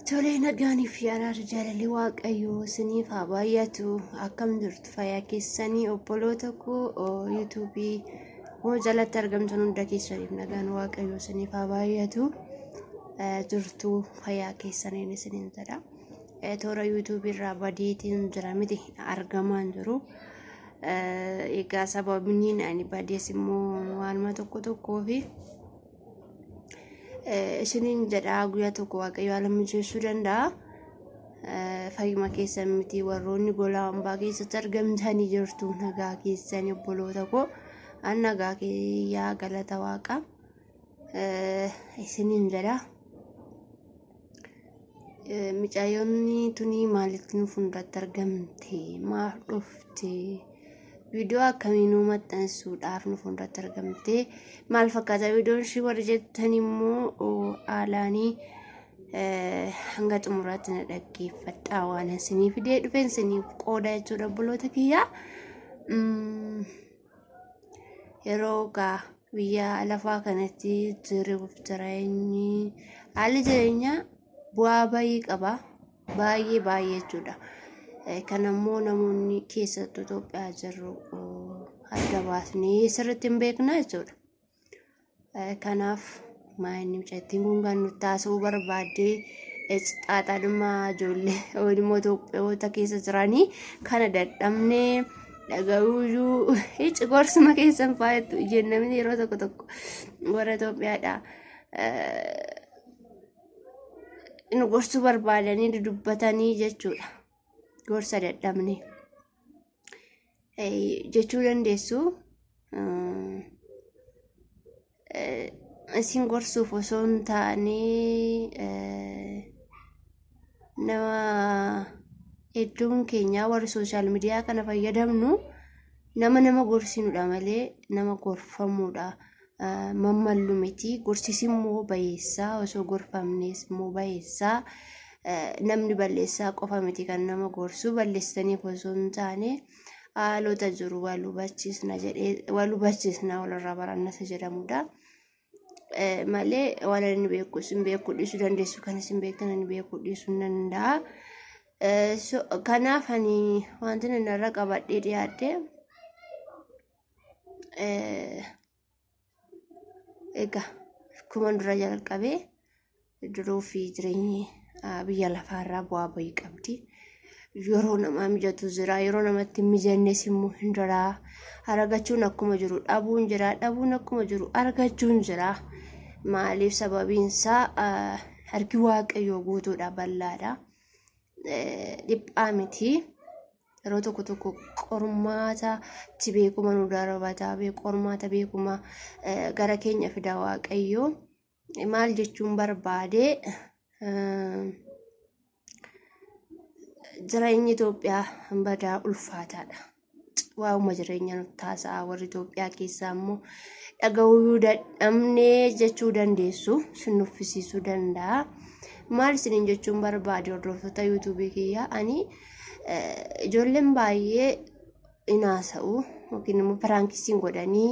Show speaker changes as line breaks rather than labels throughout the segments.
Tolee nagaanii fi araarri jaalalli waaqayyoo isiniif haa baay'atu akkam jirtu fayyaa keessanii obboloota koo yuutuubii koo jalatti argamtan hunda keessaniif nagaan waaqayyoo isiniif haa baay'atu jirtu fayyaa keessaniin isiniin jedha toora yuutuubii irraa badiitiin jira miti argamaan jiru. Eh, Egaa sababni ani badees immoo waanuma tokko tokkoo fi eh, isiniin jedhaa guyyaa tokko waaqayyo haala mijeessuu danda'a. Eh, Fayyuma keessan miti warroonni golaa hambaa keessatti argamtanii jirtu nagaa keessan obboloota koo an nagaa kiyyaa galata waaqa eh, isiniin jedha. Micaayonni tunii maalitti nu fuulduratti argamte maaf dhufte viidiyoo akkamii nu maxxansuudhaaf nu fuulduratti argamte maal fakkaata viidiyoon ishii warri jettan immoo haalaanii hanga xumuraatti na dhaggeeffadhaa waan isinii fidee dhufeen isiniif qooda jechuudha obboloota kiyyaa. yeroo gaa biyya lafaa kanatti jiruuf jireenyi haalli jireenyaa bu'aa baay'ee qaba baay'ee baay'ee jechuudha kan ammoo namoonni keessattuu Itoophiyaa jirru adda baasnee sirriitti hin beekna jechuudha. Kanaaf maayinni mucattiin kun kan nutti haasa'uu barbaadde xaaxadhummaa ijoollee immoo Itoophiyoota keessa jiranii kana dadhabnee dhaga'uuyyuu hici gorsuma keessan faayattu jennamni yeroo tokko tokko warra Itoophiyaadha. Nu gorsuu barbaadanii dudubbatanii jechuudha. Gorsa dadhabnee. jechuu dandeessu. Isin gorsuuf osoo hin taane nama hedduun keenyaa warri sooshaal miidiyaa kana fayyadamnu nama nama gorsinudha malee nama gorfamuudha. mammallu miti gorsis immoo bayeessaa osoo gorfamnees immoo bayeessaa namni balleessaa qofa miti kan nama gorsu balleessaniif osoo hin taane haalota jiru wal hubachiisna jedhee wal hubachiisna walirraa baranna isa jedhamudha. malee waan inni beeku isin beekuu dhiisuu dandeessu kan isin beektan inni beekuu dhiisuu hin danda'a. Kanaaf ani wanti inni irra qabadhee dhiyaadde egaa akkuma dura jalqabee jiruu fi jireenyi biyya lafaarraa bu'aa bahii qabdi. Yeroo namaa mijatu jira, yeroo namatti hin mijannes immoo hin jira. Argachuun akkuma jiru dhabuun jira, dhabuun akkuma jiru argachuun jira. Maaliif sababiin isaa harki waaqayyoo guutuudha, bal'aadha, dhiphaa miti. yeroo tokko tokko qormaata itti beekuma nu darbata qormaata beekuma gara keenya fida waaqayyoo maal jechuun barbaade jireenyi Itoophiyaa badaa ulfaataadha. Waa'uma jireenya nutti taasisaa warri Itoophiyaa keessaa immoo dhaga'uu dadhabnee jechuu dandeessu sin nuffisiisuu danda'a. Maal isiniin jechuun barbaade hordoftoota yuutuubii kiyyaa ani Ijoolleen baay'ee hin haasa'u yookiin immoo piraankisiin godhanii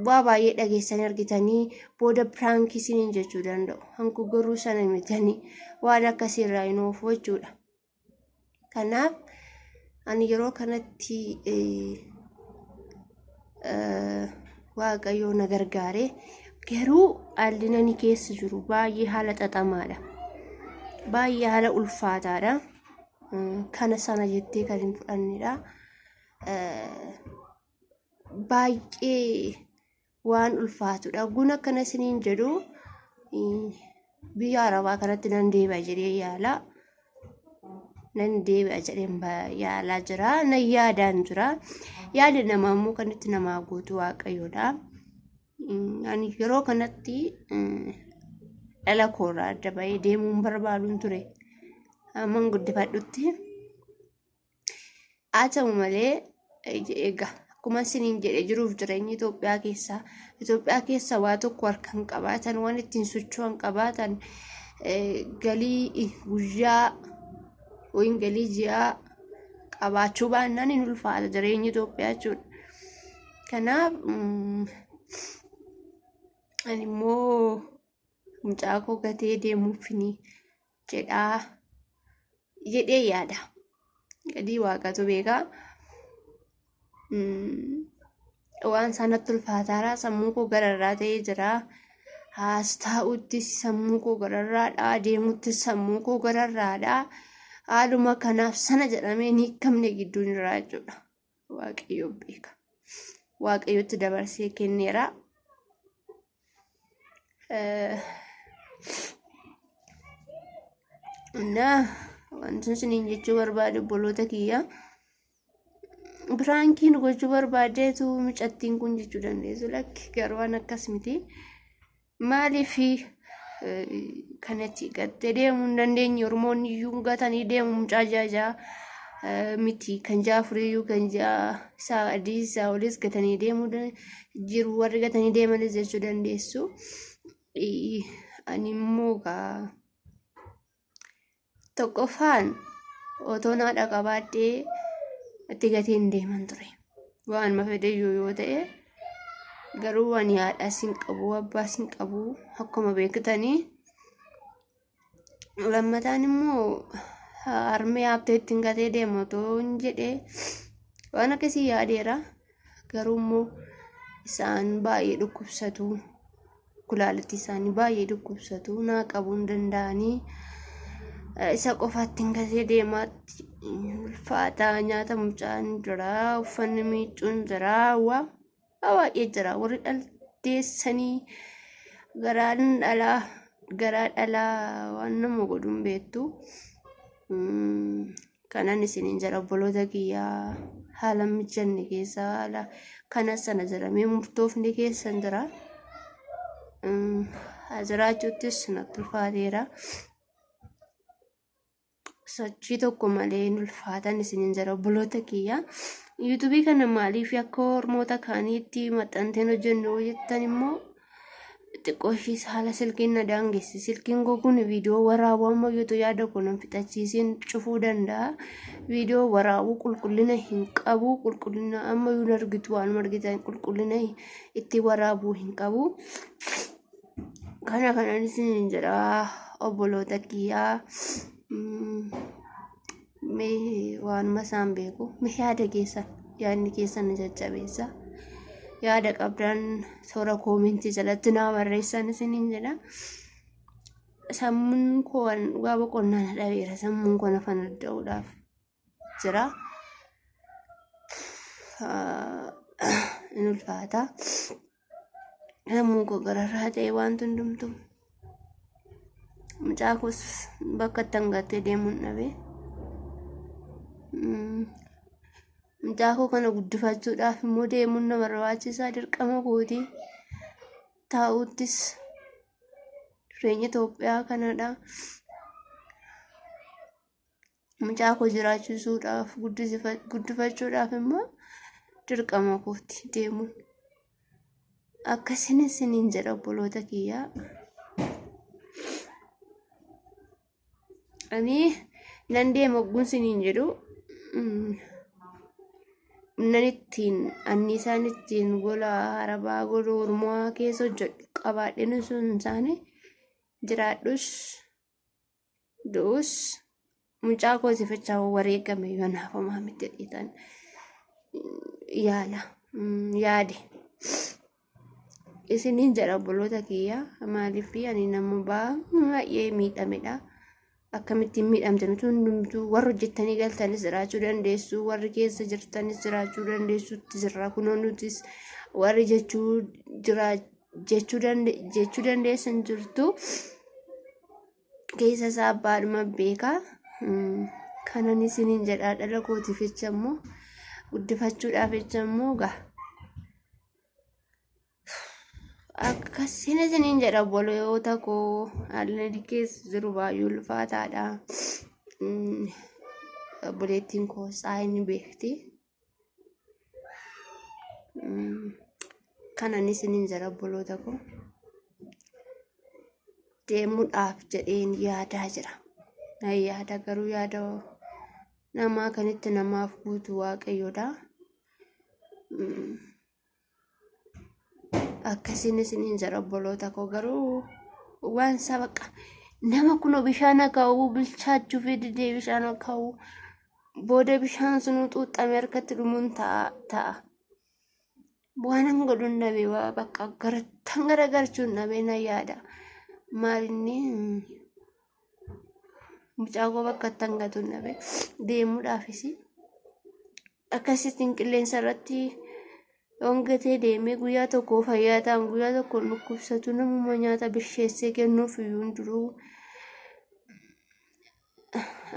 bu'aa baay'ee dhageessanii argitanii booda piraankisiin jechuu danda'u. Hanku garuu sana mitanii waan akkasii irraa hin oofu jechuudha. Kanaaf ani yeroo kanatti waaqayyoo na gargaare garuu haalli nani keessa jiru baay'ee haala xaxamaadha. Baay'ee haala ulfaataadha. Kana sana jettee kan hin fudhannedha. Baay'ee waan ulfaatudha. Ogguun akkana isiniin jedhu biyya arabaa kanatti nan deebi'a jedhee yaala. Nan deebi'a jedheen yaalaa jira. Nan yaadaan jira. Yaada namaa immoo kan itti namaa guutu waaqayyoodha. Ani yeroo kanatti dhala koorraa adda bahee deemuun barbaaduun ture. Amman guddifadhutti. Haa ta'u malee egaa akkuma isiniin jedhe jiruuf jireenyi Itoophiyaa keessaa Itoophiyaa keessa waa tokko harkaan qabaatan waan ittiin socho'an qabaatan galii guyyaa yookiin galii ji'aa qabaachuu baannaan hin ulfaata jireenyi Itoophiyaa jechuudha. Kanaaf ani immoo mucaa koo gatee deemuufini. jedhaa jedhee yaada gadii waaqatu beekaa waan sanatti ulfaataaraa sammuu koo gararraa ta'ee jira haas taa'utti sammuu koo gararraadha deemutti sammuu koo gararraadha haaluma kanaaf sana jedhamee hin hiikamne gidduun irraa jechuudha. waaqayyo beeka waaqayyotti dabarsee kenneera Eh, እና wanti isiniin jechuu barbaade obboloota kiyya biraankiin gochuu barbaadeetu mucattiin kun jechuu dandeessu lakki garuu waan akkas miti Maaliif kanatti gattee deemuu hin dandeenye Oromoonni iyyuu gatanii deemu mucaa ja'a ja'a eh, miti kan ja'a afurii iyyuu kan ja'a isaa adii isaa oliis gatanii deemuu dan- jiru warri gatanii deemanis jechuu dandeessu. Eh, Ani immoo kaa Tokkoffaan otoo naa dhaqabaadhee itti gatiin deeman ture. Waan ma fedheyyuu yoo ta'e garuu waan yaadhaa sin qabu abbaa sin qabu akkuma beektanii lammataan immoo harmee haabtee ittiin gatee deema otoo hin jedhee waan akkasii yaadeera. garuu immoo isaan baay'ee dhukkubsatu kulaalitti isaanii baay'ee dhukkubsatu naa qabuu hin danda'anii isa qofaatti hin gasee deemaatti ulfaataa nyaata mucaan jira uffanni miiccuun jira waa baay'ee jira warri dhalteessanii garaan dhalaa garaa dhalaa waan nama godhuun beektu. kanan isinin jedha obboloota kiyya haala mijanne keessa haala kana sana jedhamee murtoofni keessan jira Mm, haa jiraachuuttis natti ulfaateera sochii tokko malee hin ulfaatan isinin jedha obboloota kiyya yuutubii kana maaliif akka hormoota kaaniitti maxxanteen hojjennu jettan immoo xiqqoo ishiis haala silkiin na daangesse silkiin koo kun viidiyoo waraabuu amma iyyuu yaada koo nan fixachiisiin cufuu danda'a viidiyoo waraabuu qulqullina hin qabu qulqullina amma iyyuu hin argitu waanuma argitan qulqullina itti waraabuu hin qabu kana kanan isin jedha obboloota kiyyaa. Mm. mee waanuma isaan beeku mee yaada keessan yaadni keessan nu jajjabeessa yaada qabdan toora koomentii jalatti naa barreessan isiniin jedha sammuun koo waan dhugaa boqonnaa na dhabeera sammuun koo nafa nadda'uudhaaf jira Ah, in ulfaata Sammuu koo gararraa ta'e wanti hundumtu. Mucaa koos bakka itti hangattee deemuun dhabe. Mucaa koo kana guddifachuudhaaf immoo deemuun na barbaachisaa dirqama kooti. Taa'uttis jireenya Itoophiyaa kanadha. mucaa koo jiraachisuudhaaf guddifachuudhaaf immoo dirqama kooti deemuun akkasinis siniin jedha obboloota kiyyaa. Ani nan deema ogguun siniin jedhu nan ittiin anniisaan ittiin gola arabaa gola ormaa keessa hojjedhu qabaadheen sun isaanii jiraadhus. du'us mucaa koo sifachaa wareegame yoo naaf homaa miti jedhitan yaala yaade isiniin jedha obboloota kiyya maaliif ani nama baay'ee miidhamedha akkamittiin miidhamte nuti hundumtuu warri hojjettanii galtanis jiraachuu dandeessu warri keessa jirtanis jiraachuu dandeessutti jirra kunoo nutis warri jechuu jiraachuu jechuu dande- jechuu dandeessu hin jirtu keessa isaa abbaadhuma beeka Mm, kanan isiniin jedhaa dhala kootiif jecha immoo guddifachuudhaaf jecha immoo gaa akkasiin isiniin jedha obboloota koo haalli keessa jiru baay'ee ulfaataadha Mm, obboleettiin koo isaa inni beekti kanan isinin jira obboloota koo deemuudhaaf jedheen yaadaa jira na yaada garuu yaada namaa kanitti namaaf guutu waaqayyoodha akkasiin isiniin jedha obboloota koo garuu waan isaa baqa nama kunoo bishaan akaa'uu bilchaachuu fi didee bishaan akaa'uu booda bishaan sunuu xuuxxame harkatti dhumuun ta'a ta'a. Waanan godhuun dhabe waa bakka garattan garagarchuun dhabe na yaada. Maalinni mucaa koo bakka itti hangatu hin dhabe deemuudhaafis akkasittiin qilleensa irratti hongatee deemee guyyaa tokko fayyaa ta'an guyyaa tokko dhukkubsatu namuma nyaata bisheessee kennuuf iyyuu hin jiru.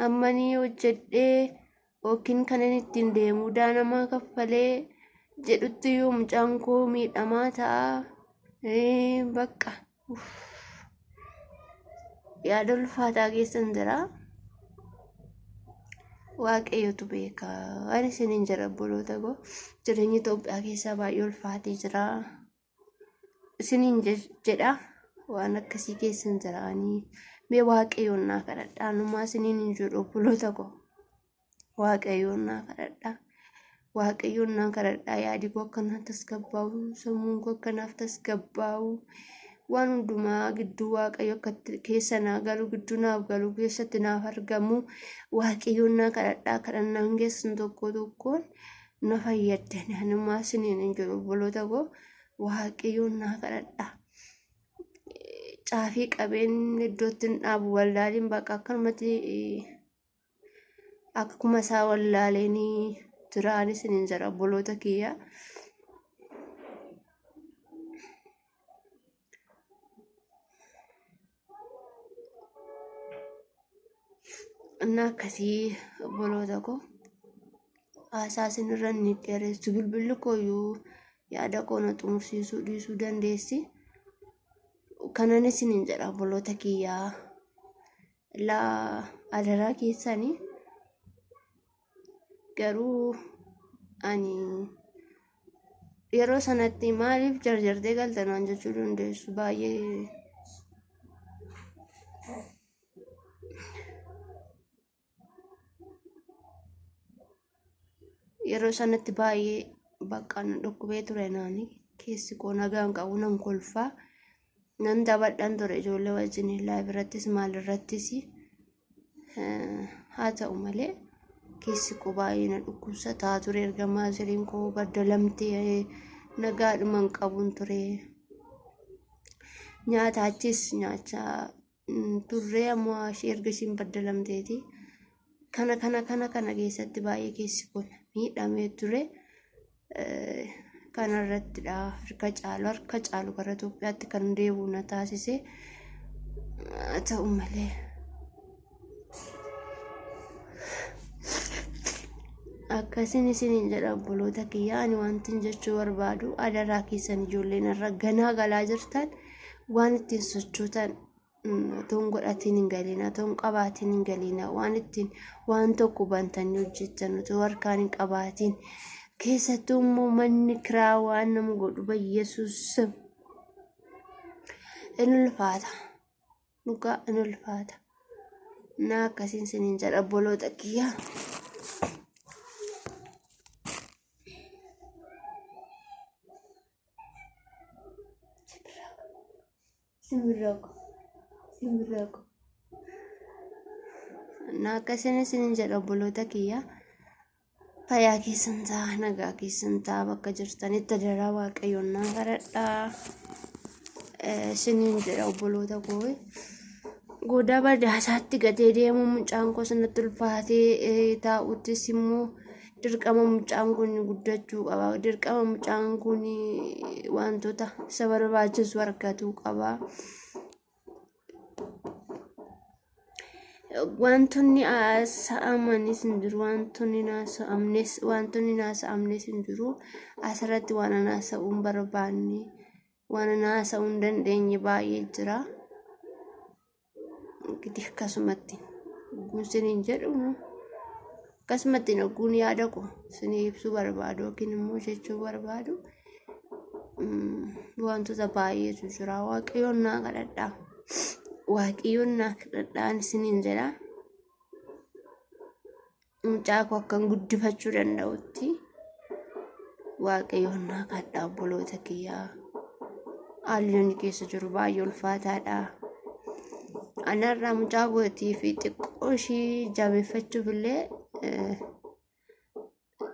Ammanii hojjedhee yookiin kan inni ittiin deemu daanamaa kaffalee jedhutti iyyuu mucaan koo miidhamaa ta'a. Ee, Bakka yaada ulfaataa keessan jira waaqayyotu beeka waan isiniin jira obboloota koo jireenyi Itoophiyaa keessaa baay'ee ulfaatee jira isiniin je- jedha waan akkasii keessan jiraanii mee waaqayyoon naa kadhadhaa numaa isiniin hin jedhu obboloota koo waaqayyoon naa kadhadhaa waaqayyoon naa kadhadhaa yaadi koo akka naaf tasgabbaa'u sammuun koo akka naaf tasgabbaa'u waan hundumaa gidduu waaqayyo akka itti- keessa naa galu gidduu naaf galu keessatti naaf argamu waaqayyoon naa kadhadhaa kadhannaan keessan tokko tokkoon na fayyadda naanummaa isiniin hin jiru obboloota koo waaqayyoon naa kadhadhaa caafii qabeen iddootti hin dhaabu wallaaliin bakka akkanumatti eh, akkuma isaa wallaaleenii jiraan isiniin jedha obboloota kiyya. እና akkasii obboloota koo haasaa isinirra ni dheeressu bilbilli kooyyuu yaada koo na xumursiisuu dhiisuu dandeessi. Kanan isiniin jedha obboloota kiyyaa. laa adaraa keessani garuu ani yeroo sanatti maaliif jarjartee galta naan jechuu dandeessu baay'ee yeroo sanatti baay'ee bakka na dhukkubee ture naani keessi koo nagaan qabu nan kolfaa nan taphadhan ture ijoollee wajjin live irrattis maal irrattis haa ta'u malee keessi koo baay'ee na dhukkubsataa ture erga maasiriin koo baddalamtee nagaadhuman qabun ture nyaata achis nyaachaa turree ammoo ishee erga ishiin baddalamteeti kana kana kana kana keessatti baay'ee keessi kun miidhamee ture kana irrattidha harka caalu harka caalu gara Itoophiyaatti kan deebi'u na taasise haa ta'u malee akkasin isiniin jedha obboloota kiyyaa ani wantin jechuu barbaadu adaraa keessan ijoolleen irra ganaa galaa jirtan waan ittiin sochootan otoo hin godhatiin hin galiina otoo hin qabaatiin hin galiina waan ittiin waan tokko bantanii hojjettan otoo harkaan hin qabaatiin keessattuu immoo manni kiraa waan nama godhu bayyesuus in ulfaata dhugaa in ulfaata naa akkasiin siniin jedha obboloota kiyyaa. Simbirrooko. Simbirrooko. Na akkasina isinin jedha obboloota kiyya. Fayyaa keessan ta'a, nagaa keessan ta'a bakka jirtanitti daraa waaqayyoon naa kadhadhaa. Eh, Isinin jedha obboloota koo. Godaa badaasaatti gatee deemuu mucaan koo sanatti ulfaatee eh, taa'uttis immoo dirqama mucaan kun guddachuu qaba dirqama mucaan kun wantoota isa barbaachisu argatuu qaba wantoonni haasa'amanis hin jiru wantoonni hin haasa'amnes wantoonni hin haasa'amnes hin jiru asirratti waan an haasa'uu hin barbaanne waan an haasa'uu hin dandeenye baay'ee jira. Gidih kasumatti ogguun siniin jedhu akkasumatti ogguun yaada ko sinii ibsuu barbaadu yookiin immoo jechuu barbaadu wantoota baay'eetu jira waaqayyoon naa kadhadhaa waaqayyoon naa kadhadhaan siniin jedhaa. mucaa koo akkan guddifachuu danda'utti waaqayyoon naa kadhaa obboloota kiyyaa haalli inni keessa jiru baay'ee ulfaataadha. Anarraa mucaa kootii fi xiqqoo ishii jabeeffachuuf illee eh,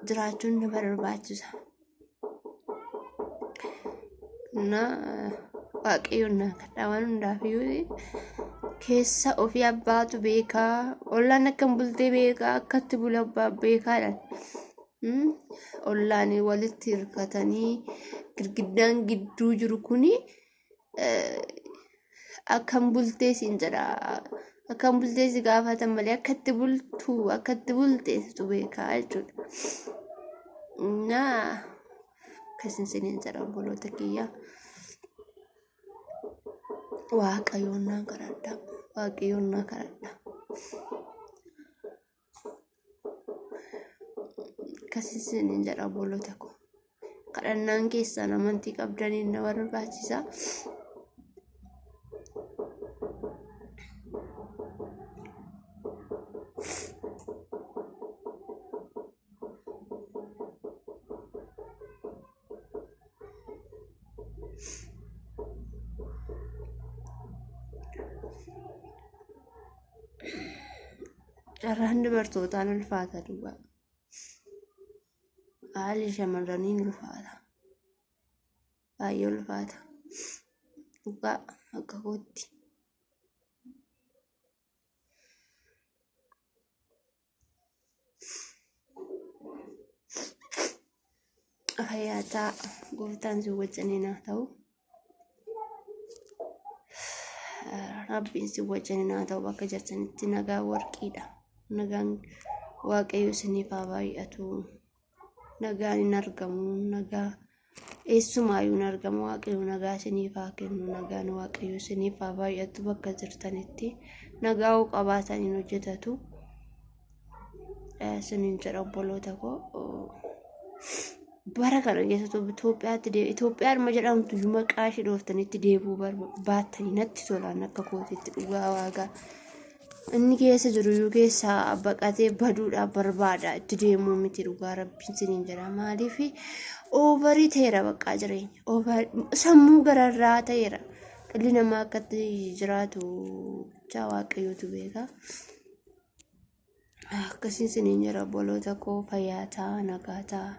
jiraachuun na barbaachisa. እና waaqayyoon naa kadhaa waan hundaaf iyyuu keessa ofii abbaatu beekaa ollaan akkam bultee beekaa akkatti bula abbaa beekaadhaan Mm, ollaan walitti hirkatanii girgiddaan gidduu jiru kuni akkam bultee siin jedha akkam bultee si gaafatan malee akkatti bultu akkatti bultee situ beekaa jechuudha na akkasin siniin jedha obboloota kiyya waaqayyoon naa kadhadha waaqayyoon naa kadhadha akkasisin hin jedha obboloota koo kadhannaan keessan amantii qabdaniin na barbaachisa Carraan dubartootaan ulfaata duwwaa. Haalli shamarranii ni ulfaata. Baay'ee ulfaata. Dhugaa akka kootti. Fayyaataa gooftaan si wajjiniin haa ta'u. Rabbiin si wajjiniin haa ta'u bakka jirtanitti nagaa warqiidha. Nagaan waaqayyo isiniif haa baay'atu. nagaan hin argamu nagaa eessumaayuu hin argamu waaqayyo nagaa isiniif haa kennu nagaan waaqayyo isiniif haa baay'atu bakka jirtanitti nagaa hoo qabaatan hin hojjetatu isiniin jedha obboloota koo bara kana keessattuu Itoophiyaatti deebi Itoophiyaadhuma jedhamtu iyyuu maqaa ishee dhooftanitti deebi'uu baattanii natti tolaan akka kootiitti dhugaa waagaa inni keessa jiru iyyuu keessaa baqatee baduudhaaf barbaada itti deemuu miti dhugaa rabbiin siniin jedha maaliif oovarii ta'eera baqqaa jireenya Over- sammuu gararraa ta'eera dhalli namaa akkatti jiraatu jaa waaqayyootu beeka Akkasii isiniin jira obboloota koo fayyaa ta'a nagaa ta'a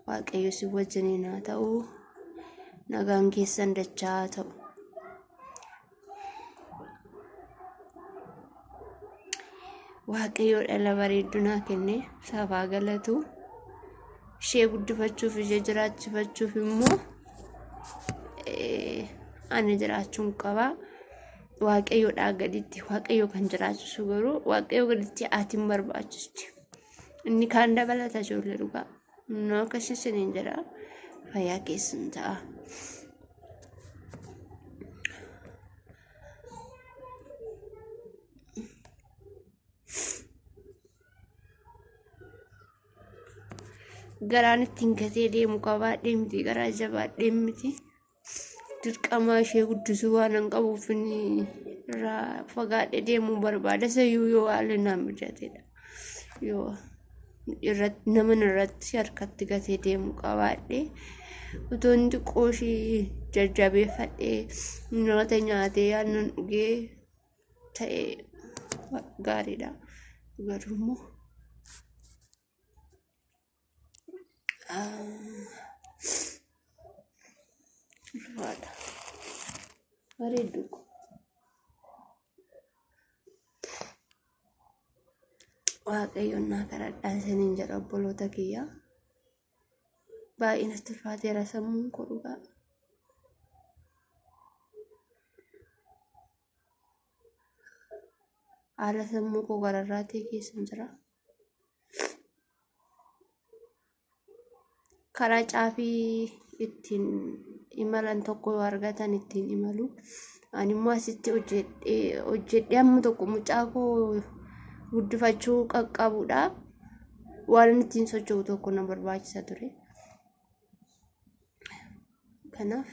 waaqayyo si wajjiniin haa ta'u nagaan keessan dachaa haa ta'u. Waaqayyo dhala bareeddunaa kenne isaaf haa galatu ishee guddifachuuf ishee jiraachifachuuf immoo eh, ani jiraachuun qaba. waaqayyoodhaa gaditti waaqayyo kan jiraachisu garuu waaqayyo gaditti haati hin barbaachisti. Inni kaan dabalata ijoollee dhugaa. Inni akkasii isiniin jedha fayyaa keessan ta'a. Garaan ittiin gatee deemu qabaadhee miti garaa jabaadhee miti. dirqamaa ishee guddisuu waan hin qabuuf inni irraa fagaadhe deemuu barbaada sayyuu yoo haalli naa mijatedha yoo irratti naman irratti harkatti gatee deemuu qabaadhe utuun xiqqoo ishii jajjabeeffadhee nyaata nyaatee aannan dhugee ta'e gaariidha garuu immoo Haadha. Bareedduu ko. Waaqayyoon naa kadhadhaa isiniin jedha obboloota kiyyaa. Baay'ee natti ulfaateera sammuun koo dhugaa. Haala sammuu koo gararraatee keessa jira. karaa caafii ittiin imalan tokko yoo argatan ittiin imalu ani immoo asitti hojjedhee hojjedhee amma tokko mucaa koo guddifachuu qaqqabudha waan inni ittiin socho'u tokko na barbaachisa ture kanaaf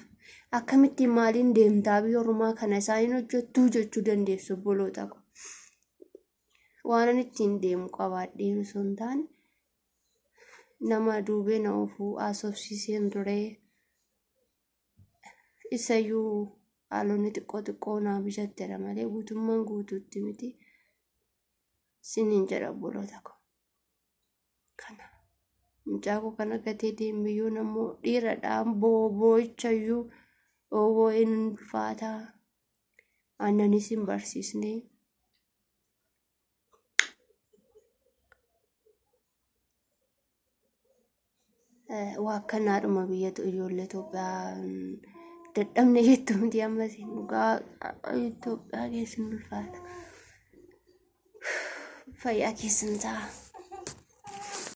akkamittiin maaliin deemtaa biyya ormaa kana isaan hin hojjettuu jechuu dandeessu obboloota koo waanan ittiin deemu qabaadheen osoo hin taane nama duubee na oofuu haasofsiiseen ture. Isayyuu haalonni xiqqoo xiqqoo naa bichattera malee guutummaan guutuutti miti siniin jedha obboloota koo. kana mucaa koo kana gatee deeme yoo nammoo dhiiradhaan booboochayyuu oowoo hin ulfaataa aannanis hin barsiisne Waakkannaadhuma biyyatu ijoollee Itoophiyaa dadhabne jettu miti ammas dhugaa Itoophiyaa keessin ulfaata. Fayyaa keessan ta'a.